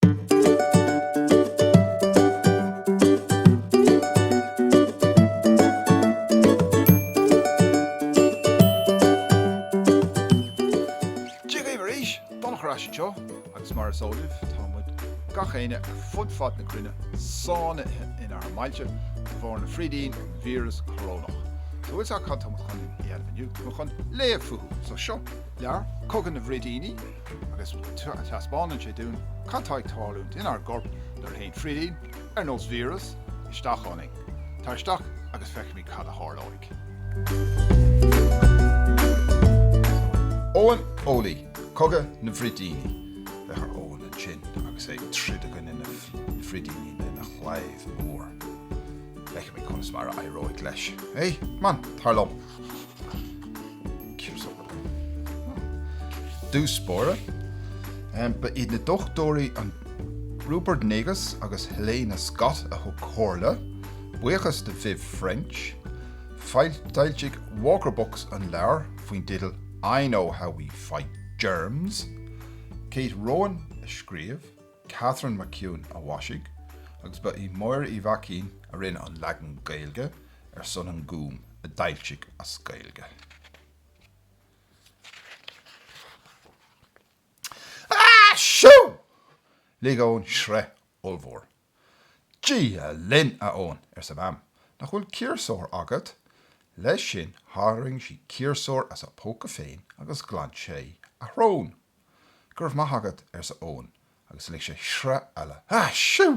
Dia dhaoibh arís! Donncha ar ais anseo agus mar is eol libh tá muid, gach éinne, ar fud fad na cruinne sáinnithe inár mbailte de bharr na frídíní, an víreas corónach. So bhfuil 's a'd cad tá muid chun a dhéanamh inniu? Tá muid chun léamh fúthu! So seo leabhar, Cogadh na bhFrídíní. agus taispeánann sé dúinn cad tá ag tarlúint inár gcorp nuair a théann frídín, ar nós víreas, isteach ionainn. Tar isteach agus feicfimid cad a tharlóidh. Eoin Eolaí, Cogadh na bhFrídíní. Féach ar Eoin ansin agus é ag troid i gcoinne na frídíní lena chlaíomh mór. Feicfimid conas mar a éireoidh leis, é? Come on, tar liom! dtús báire, ba iad na dochtúirí Rupert Negus agus Helena Scott a thug comhairle, buíochas do Viv French. D'fhoilsigh Walker Books an leabhar faoin dteideal I Know How We Fight Germs. Kate Rowan a scríobh. Katharine McEwen a mhaisigh agus ba í Máire Uí Mhaicín a rinne an leagan Gaeilge ar son An Gúm a d'fhoilsigh as Gaeilge. Ha! Siú! Lig Eoin sraoth ollmhór. Dia linn, a Eoin, arsa Mam, nach bhfuil ciarsúr agat? Leis sin tharraing sí ciarsúr as a póca féin agus ghlan sé a shrón. Go raibh maith agat, arsa Eoin agus lig sé sraoth eile. Ha! Siú!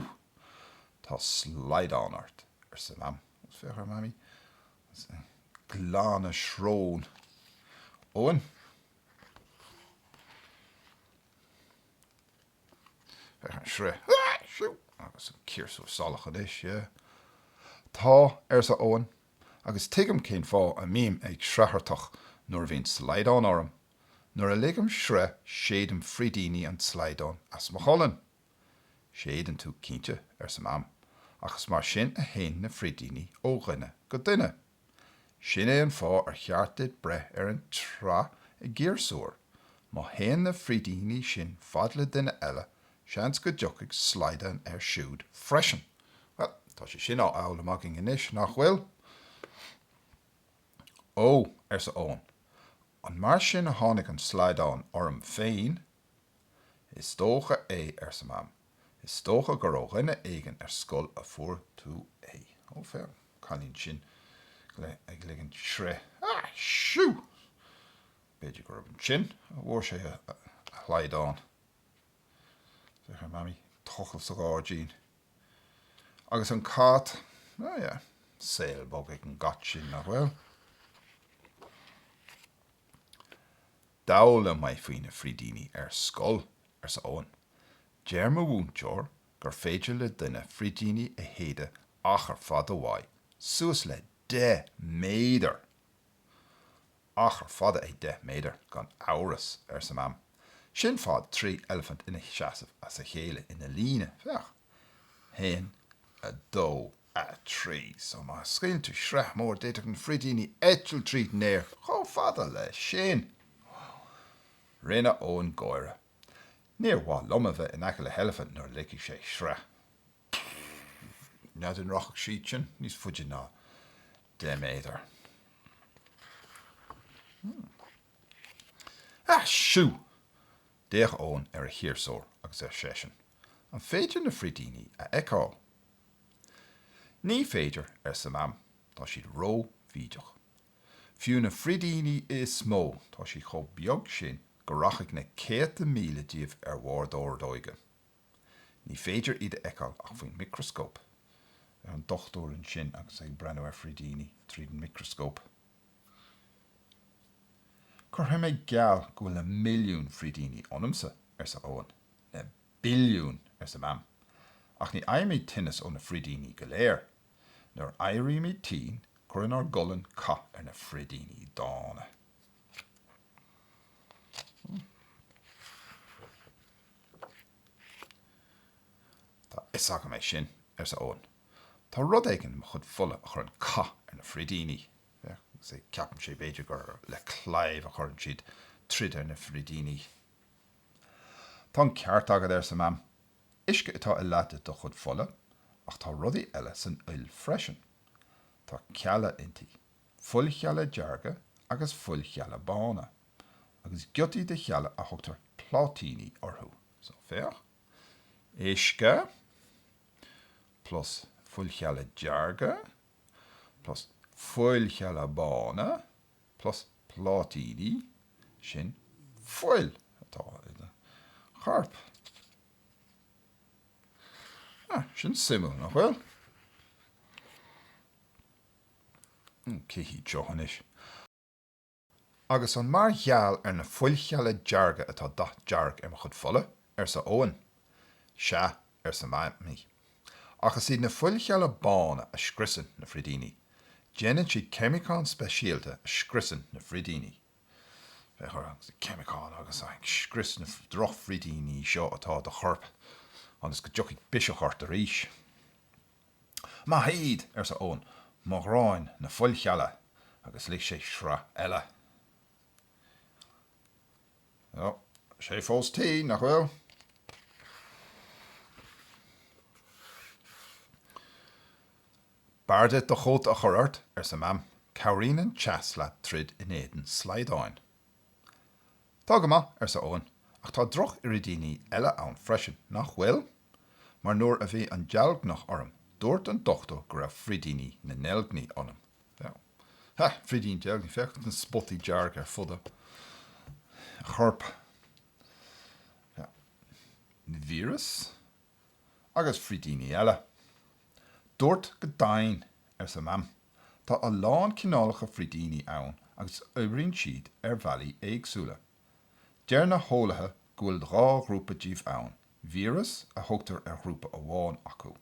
Tá slaghdán ort, arsa Mam agus féach ar Mhamaí agus í ag glanadh srón Eoin. Féach ar an sraoth. Ha! Siú! Agus an ciarsúr salach anois, yeah? Tá, arsa Eoin, agus tuigim cén fáth a mbím ag sraothartach nuair a bhíonn slaghdán orm. Nuair a ligim sraoth séidim frídíní an tslaghdáin as mo cholainn. 'Séideann tú, cinnte, arsa Mam, 'ach is mar sin a théann na frídíní ó dhuine go duine. Sin é an fáth ar cheart duit breith ar an tsraoth i gciarsúr. Má théann na frídíní sin fad le duine eile, seans go dtiocfaidh slaghdán air siúd freisin. Bhuel, tá sé sin á fhoghlaim againn anois, nach bhfuil? 'Ó! arsa Eoin, An mar sin a tháinig an slaghdán orm féin? Is dócha é, arsa Mam. Is dócha gur ó dhuine éigin ar scoil a fuair tú é. Ó, féach an cailín sin ag ligint sraotha. Á, shoo! B'fhéidir gurb ansin a fuair sé a shlaghdán. Féach ar Mamaí ag tochailt sa ghairdín. Agus an cat, oh yeah, saol bog ag an gcat sin, nach bhfuil? D'fhoghlaim mé faoi na frídíní ar scoil, arsa Eoin. Deir mo mhúinteoir gur féidir le duine frídíní a shéideadh achar fada uaidh, suas le deich méadar! 'Achar fada é deich méadar, gan amhras, arsa Mam. 'Sin fad trí eilifint ina seasamh as a chéile ina líne. Féach. A haon, a dó, a trí. So, má scaoileann tú sraoth mór d'fhéadfadh na frídíní eitilt tríd an aer chomh fada leis sin! 'Wow! Rinne Eoin gáire. 'Níor mhaith liom a bheith in aice le eilifint nuair a ligfidh sé sraoth. Pfff. N'fheadar an rachadh siad sin níos faide ná 10 méadar. Hmm. Ah, shoo! D'fhéach Eoin ar a chiarsúr agus ar seisean, An féidir na frídíní a fheiceáil? Ní féidir, arsa Mam. Tá siad ró-bhídeach. Fiú na frídíní is mó, tá siad chomh beag sin go rachadh na céadta míle díobh ar bharr d'ordóige. Ní féidir iad a fheiceáil ach faoin micreascóp. Féach ar an dochtúir ansin agus é ag breathnú ar frídíní tríd an micreascóp. Cuirfidh mé geall go bhfuil na milliún frídíní ionamsa, arsa Eoin. Na billiún! arsa Mam. Ach ní fhaighimid tinneas ó na frídíní go léir. Nuair a éirímid tinn, cuireann ár gcolainn cath ar na frídíní dána. Tá fhios agam é sin, arsa Eoin. Tá rud éigin i mo chuid fola a chuireann cath ar na frídíní. Féach, agus é ceapann sé b'fhéidir gur le claíomh a chuireann siad troid ar na frídíní. Tá an ceart agat, arsa Mam. Uisce atá i leath de do chuid fola, ach tá rudaí eile san fhuil freisin. Tá cealla inti. fuilchealla dearga agus fuilchealla bána, agus giotaí de chealla a thugtar pláitíní orthu. So, féach, uisce plus fuilchealla dearga plus fuilchealla bána plus pláitíní, sin fuil atá id chorp. Ah, sin suimiúil, nach bhfuil? Cé hiad seo anois? Agus an mar gheall ar na fuilchealla dearga atá dath dearg ar mo chuid fola? arsa Eoin. Sea, arsa Mamaí. Ach is iad na fuilchealla bána a scriosann na frídíní. Déanann siad ceimiceán speisialta a scriosann na frídíní. Féach ar an gceimiceán agus é ag scrios na drochfhrídíní seo atá i do chorp ionas go dtiocfaidh biseach ort arís. Maith iad! arsa Eoin, mo ghraidhin na fuilchealla! agus lig sé sraoth eile. Tá sé fós tinn, nach bhfuil? B'fhearr duit do chóta a chur ort, arsa Mam, cabhraíonn an teas leat troid in éadan slaghdáin. Tá go maith, arsa Eoin, ach tá drochfhrídíní eile ann freisin, nach bhfuil? mar nuair a bhí an deilgneach orm dúirt an dochtúir go raibh frídíní na ndeilgní ionam. Sea, frídíní deilgní, féach na spotaí dearga ar fud a choirp. Sea, na víris agus frídíní eile. Dúirt go deimhin, arsa Mam, tá a lán cineálacha frídíní ann agus oibríonn siad ar bhealaí éagsúla. Deir na heolaithe go bhfuil dhá ghrúpa díobh ann, víreas, a thugtar ar ghrúpa amháin acu.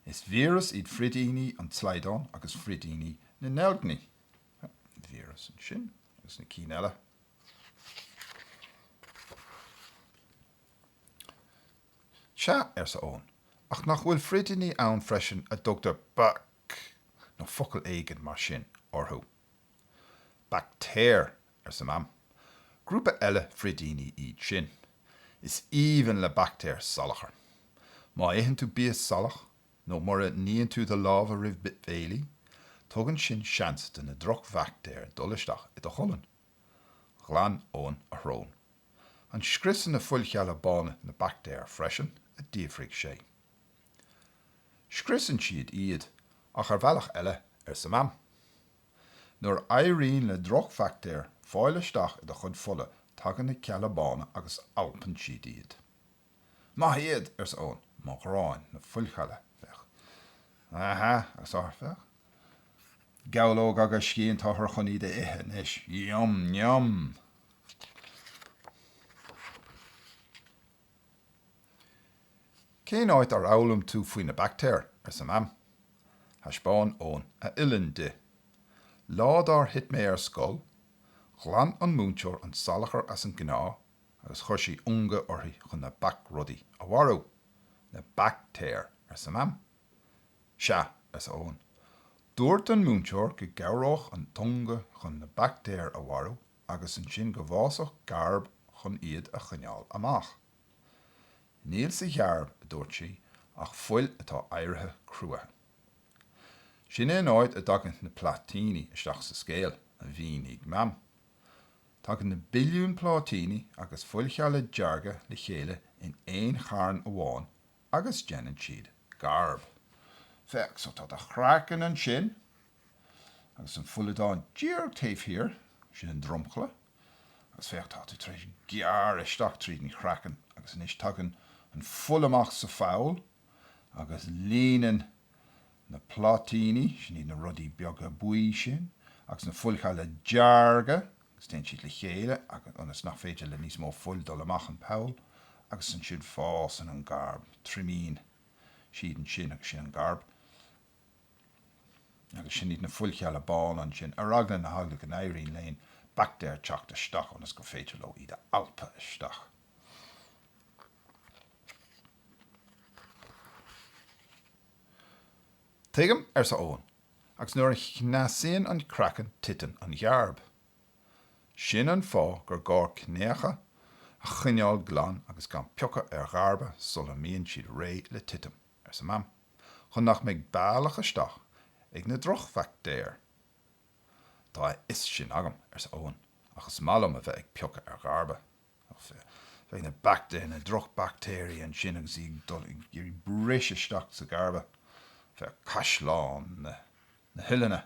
Is víreas iad frídíní an tslaghdáin agus frídíní na ndeilgní. An víreas ansin, agus na cinn eile, Sea, arsa Eoin, ach nach bhfuil frídíní ann freisin a dtugtar bac, nó focal éigin mar sin, orthu? Baictéir, arsa Mam. 'Grúpa eile frídíní iad sin. Is aoibhinn le baictéir salachar. Má itheann tú bia salach nó mura níonn tú do lámha roimh bhéilí, tugann sin seans do na drochbhaictéir dul isteach i do cholainn. Ghlan Eoin a shrón. 'An scriosann na fuilchealla bána na baictéir freisin? a d'fhiafraigh sé. 'Scriosann siad iad, ach ar bhealach eile, arsa Mam. Nuair a éiríonn le drochbhaictéir fáil isteach i do chuid fola, tagann na cealla bána agus alpann siad iad. Maith iad! arsa Eoin. Mo ghraidhin, na fuilchealla. Féach. Aha, agus, féach. Gabhlóg agus scian, táthar chun iad a ithe anois. Yum, yum! Cén áit ar fhoghlaim tú faoi na baictéir? arsa Mam. Thaispeáin Eoin a uillinn di. Lá dár thit mé ar scoil, ghlan an múinteoir an salachar as an gcneá agus chuir sí ungadh uirthi chun na bac-rudaí a mharú. Na baictéir! arsa Mam. Sea, arsa Eoin. Dúirt an múinteoir go gcabhródh an t-ungadh chun na baictéir a mharú agus ansin go bhfásfadh gearb chun iad a choinneáil amach. Níl sa ghearb, a dúirt sí, ach fuil atá éirithe cruaithe. Sin é an áit a dtagann na pláitíní isteach sa scéal, a mhínigh Mam. Tagann na billiúin pláitíní agus fuilchealla dearga le chéile in aon charn amháin agus déanann siad gearb. Féach so, tá do chraiceann ansin. Agus an fuileadán díreach taobh thiar, sin an dromchla, agus féach, tá tú tar éis gearradh isteach tríd an chraiceann agus anois tagann an fuil amach sa pholl agus líonann na pláitíní, sin iad na rudaí beaga buí sin, agus na fuilchealla dearga agus téann siad le chéile agus, ionas nach féidir le níos mó fuil dul amach an poll, agus ansin fásann an gearb, triomaíonn siad ansin agus sin an gearb. Agus sin iad na fuilchealla bána ansin, ar eagla na heagla go n-éiríonn le haon baictéar teacht isteach ionas gur féidir leo iad a alpadh isteach. Tuigim, arsa Eoin, agus nuair a chneasaíonn an craiceann titeann an ghearb. Sin an fáth gur gá cneácha a choinneáil glan agus gan piocadh ar ghearba sula mbíonn siad réidh le titim. arsa Mam, chun nach mbeidh bealach isteach ag na drochbhaictéir. Tá a fhios sin agam, arsa Eoin, ach is maith liom a bheith ag piocadh ar ghearba. Ó, féach na baictéir, na drochbhaictéirí ansin agus iad ag iarraidh briseadh isteach sa ghearb. Féach caisleán na huillinne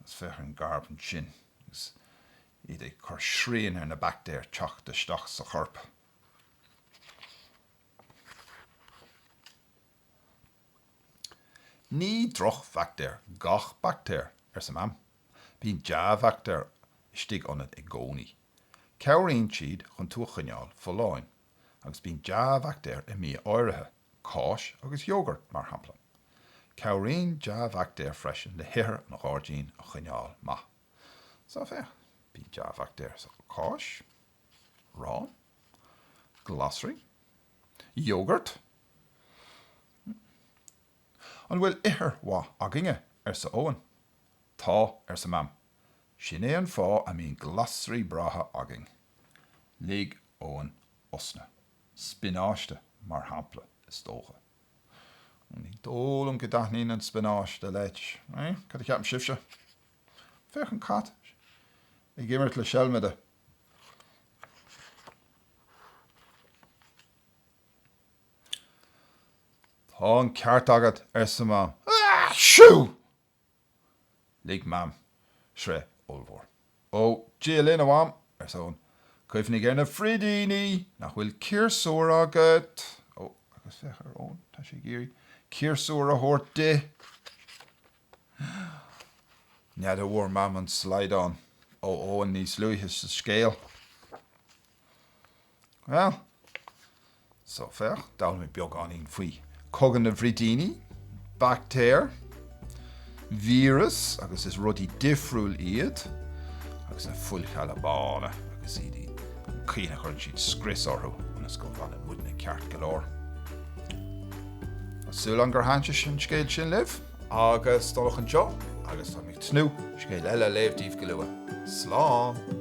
agus féach an gearb ansin agus iad ag cur srian ar na baictéir teacht isteach sa chorp. Ní drochbhaictéir gach baictéar, arsa Mam. Bíonn dea-bhaictéir istigh ionat i gcónaí. Cabhraíonn siad chun tú a choinneáil folláin. Agus bíonn dea-bhaictéir i mbia áirithe, cáis agus iógart, mar shampla. Cabhraíonn dea-bhaictéir freisin le hithir an ghairdín a choinneáil maith. Seo, féach, bíonn dea-bhaictéir sa cháis. arán, glasraí, iógart, mm, an bhfuil ithir mhaith againne? arsa Eoghan. Tá, arsa Mam, sin é an fáth a mbíonn glasraí breátha againn. Lig Eoghan osna. Spionáiste, mar shampla, is dócha. Ó, ní dóigh liom go dtaitníonn an spionáiste leis. Cad a cheapann sibhse? Féach an cat ag imirt le seilmide. Tá an ceart agat, arsa Mam. Siú! Lig Mam sraoth ollmhór. Ó, Dia linn, a Mham, arsa Eoghan. Cuimhnigh ar na frídíní! Nach bhfuil ciarsúr agat? Ó, agus féach ar Eoghan, tá sé ag iarraidh ciarsúr a thabhairt di! N'fheadar bhfuair Mam an slaghdán ó Eoghan níos luaithe sa scéal? Bhuel, so féach, d'fhoghlaim muid beagáinín faoi Chogadh na bhFrídíní, baictéir, víreas agus is rudaí difriúil iad, agus na fuilchealla bána agus iad i, an chaoi ina chuireann siad scrios orthu ionas go bhfanann muidne ceart go leor. Tá súil agam gur thaitin an scéal sin libh. Agus d'fhanfadh anseo agus táim ag tnúth scéal eile a léamh díbh go luath. Slán!